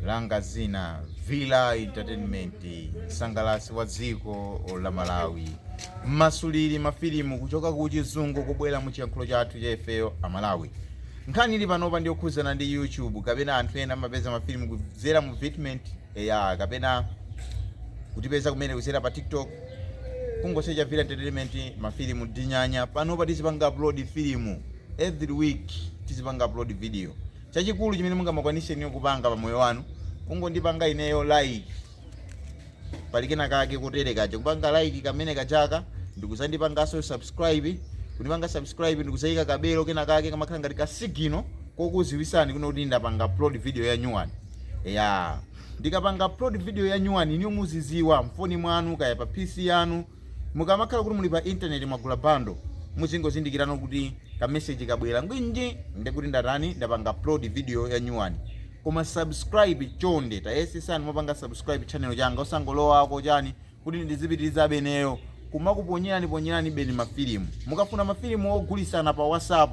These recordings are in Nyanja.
langa zina villa entertainment msangalasi wa dziko la malawi mmasuliri mafilimu kuchoka ku chizungu kubwera mu chiyankhulo chathu cha ifeyo amalawi nkhani ili panopa ndiyokhudzana ndi youtube kapena anthu ena amapeza mafilimu kudzera mu Vidmate eya kapena kutipeza kumene kudzera pa tiktok kungosecha villa entertainment mafilimu dinyanya panopa tizipanga upload filimu Every week tizipanga upload video. Chachikulu chimene mungamakwanise inuyo kupanga pa moyo wanu kungondipanga ineyo like. Pali kena kake kotere kaja kupanga like kamene kajaka ndikuzandipangaso subscribe. Kundipanga subscribe ndikuzaika kabelo kena kake kamakhala ngati ka signal kokuziwisani kuno kuti ndapanga upload video ya nyuwani. Yeah. Ndikapanga upload video ya nyuwani inuyo muziziwa mfoni mwanu kaya pa PC yanu Mukamakhala kuti muli pa internet mwagula bundle muzingozindikirano kuti ka message kabwera ngwinji ndekuti ndatani ndapanga upload video ya nyuwani. Koma subscribe chonde tayesesani mwapanga subscribe channel changa osangolowa ako chani kuti ndizipitilizabe ineyo kumakuponyeraniponyeranibeni ma filimu. Mukafuna ma filimu ogulisana pa WhatsApp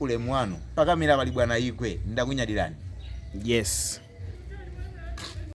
ulemu wanu pakamera pali bwana igwe ndakunyadirani yes.